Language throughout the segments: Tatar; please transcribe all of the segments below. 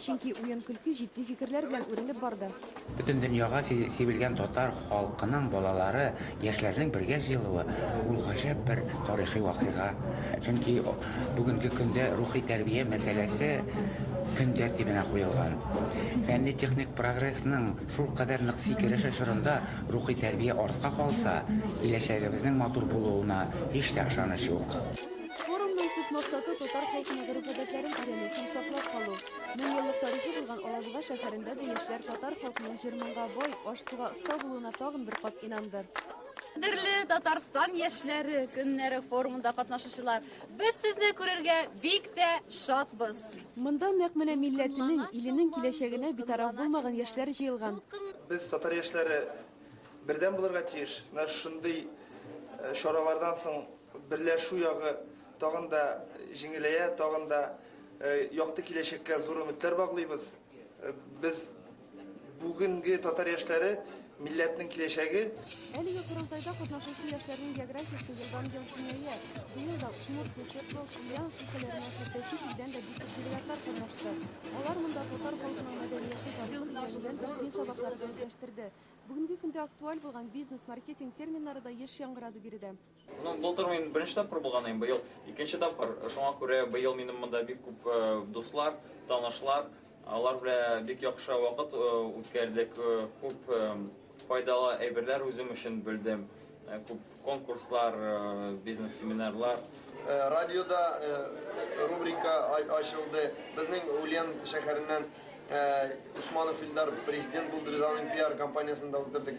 Чөнки уен-көлке җитди фикерләр белән үрелеп барды. Бөтен дөньяга сибелгән татар халкының балалары, яшьләренең бергә җыелуы, ул гаҗәп бер тарихи вакыйга. Чөнки бүгенге көндә рухи тәрбия мәсьәләсе көн тәртибенә куелган. Фәнни-техник прогрессның шулкадәр нык сикереше чорында рухи тәрбия артка калса, киләчәгебезнең матур булуына һич тә ышаныч юк. Форумның төп максаты татар халкының гореф-гадәтләрен өйрәнү һәм саклап калу. Мең еллык тарихы булган Алабуга шәһәрендә дә яшьләр татар халкының җыр-моңга бай, аш-суга оста булуына тагын бер кат инанды. Кадерле Татарстан яшьләре көннәре форумында катнашучылар, без сезне күрергә бик тә шатбыз. Монда нәкъ менә милләтенең, иленең киләчәгенә битараф булмаган яшьләр җыелган. Без, татар яшьләре, бердәм булырга тиеш. Менә шундый чаралардан соң Берләшү ягы тагын да җиңеләя, тагын да якты киләчәккә зур өметләр баглыйбыз. Без бүгенге татар яшьләре милләтнең киләчәге. Әлеге корылтайда катнашучы яшьләрнең географиясе елдан-ел киңәя. Быел да Удмурт, Свердловск, Ульяновск өлкәләреннән хәтта чит илдән дә бик күп делегатлар катнашты. Алар монда татар халкының мәдәнияте, тарихы белән генә дин сабаклары да үзләштерде. Бүгенге көндә актуаль булган бизнес, маркетинг терминнары да еш яңгырады биредә. Ну, былтыр мин беренче тапкыр булган идем, быел икенче тапкыр. Шуңа күрә быел минем монда бик күп э, дуслар, танышлар, алар белән бик яхшы вакыт э, үткәрдек, э, күп файдалы әйберләр үзем өчен белдем, күп конкурслар, бизнес семинарлар. Радиода рубрика ачылды. Безнең Ульян шәһәреннән Усманов Илдар президент булды, без аның пиар компаниясендә уздырдык.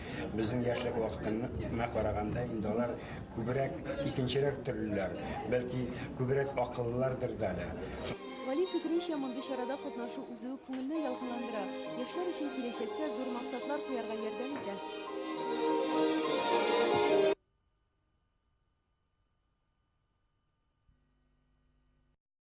Безнең яшьлек вакытына караганда, инде алар күбрәк икенчерәк төрлеләр, бәлки күбрәк акыллылардыр да әле. Гали фикеренчә, мондый чарада катнашу үзе үк күңелне ялкынландыра, яшьләр өчен киләчәккә зур максатлар куярга ярдәм итә.